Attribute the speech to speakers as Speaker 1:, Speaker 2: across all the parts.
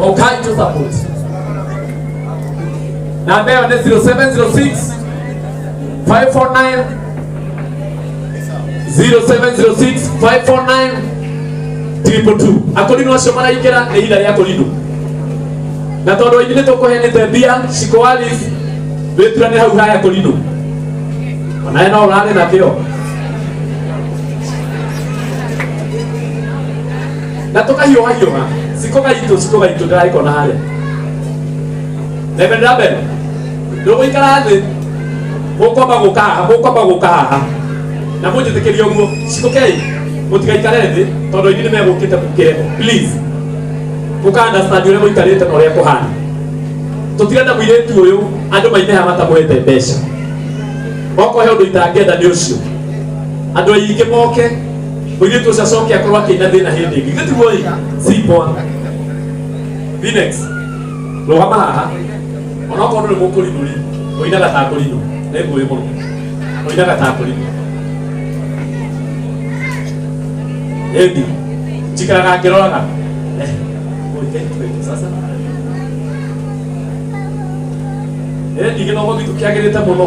Speaker 1: Okanjo support. Namba yao ni 0706 549 0706 549 triple two. Akorino acio maraikira nĩ ira rĩa kũrindu. Na tondũ aingĩ nĩ tũkũhenete mbia cikoali wĩturanĩ hau haya kũrindu. Onaye no ũrarĩ na kĩo. na tũkahiũha hiũha cikũ gaitũ cikũ gaitũ ndĩraikona harĩa reverend rabel ndũgũikara thĩ mũkwamba gũka haha mũkwamba gũka haha na mũnjĩtĩkĩria ũguo cikũkei mũtigaikare thĩ tondũ inyuĩ nĩ megũkĩte mũkĩre please mũka understand ũrĩa mũikarĩte na ũrĩa kũhana tũtire na mũirĩtu ũyũ andũ maineha matamwete mbeca okorwo he ũndũ itangĩenda nĩ ũcio andũ aingĩ moke Mũirĩtu ũcio acoke akorwo akĩina thĩna hĩndĩ ĩngĩ. Githĩ tiguo ĩ? Si poa. Phoenix, rũgama haha. Ona okorwo ndũrĩ mũkũrinũ rĩ, ũinaga ta akũrinũ. Nĩ ngũĩ mũno. Ũinaga ta akũrinũ. Ĩndi, njikaraga ngĩroraga. Eh, ũĩ, eh, twende sasa. Ĩndi gĩthomo gitũ kĩagĩrĩte mũno.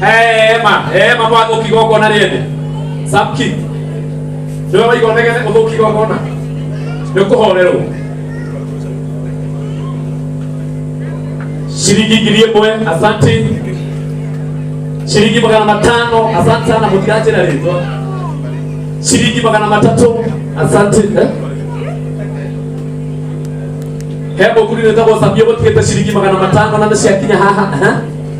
Speaker 1: hema hema mwa thũki igongona rĩene samki nĩwe waigondegete ũthũki igongona nĩ kũhorerwo shilingi ngiri ĩmwe asante shilingi magana matano asante sana mũtikanjĩra rĩtwa shilingi magana matatũ asante eh? he mũkuri nĩtagwo sabia gũtigĩte shilingi magana matano na nĩciakinya haha eh?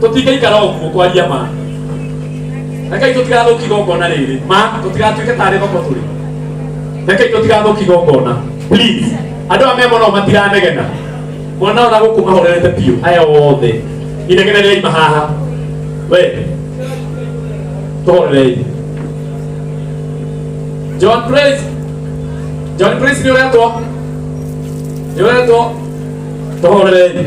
Speaker 1: tũtingĩikara ũguo kwaria ma rekei tũtigathũki gongona rĩrĩ ma tũtigatuĩke tarĩ thoko tũrĩ rekei tũtigathũki gongona please andũ aya memona matiranegena mwana ona gũkũ mahorerete biũ aya othe inegene rĩaima haha we tũhorerei john praise john praise nĩ ũretwo nĩ ũretwo tũhorerei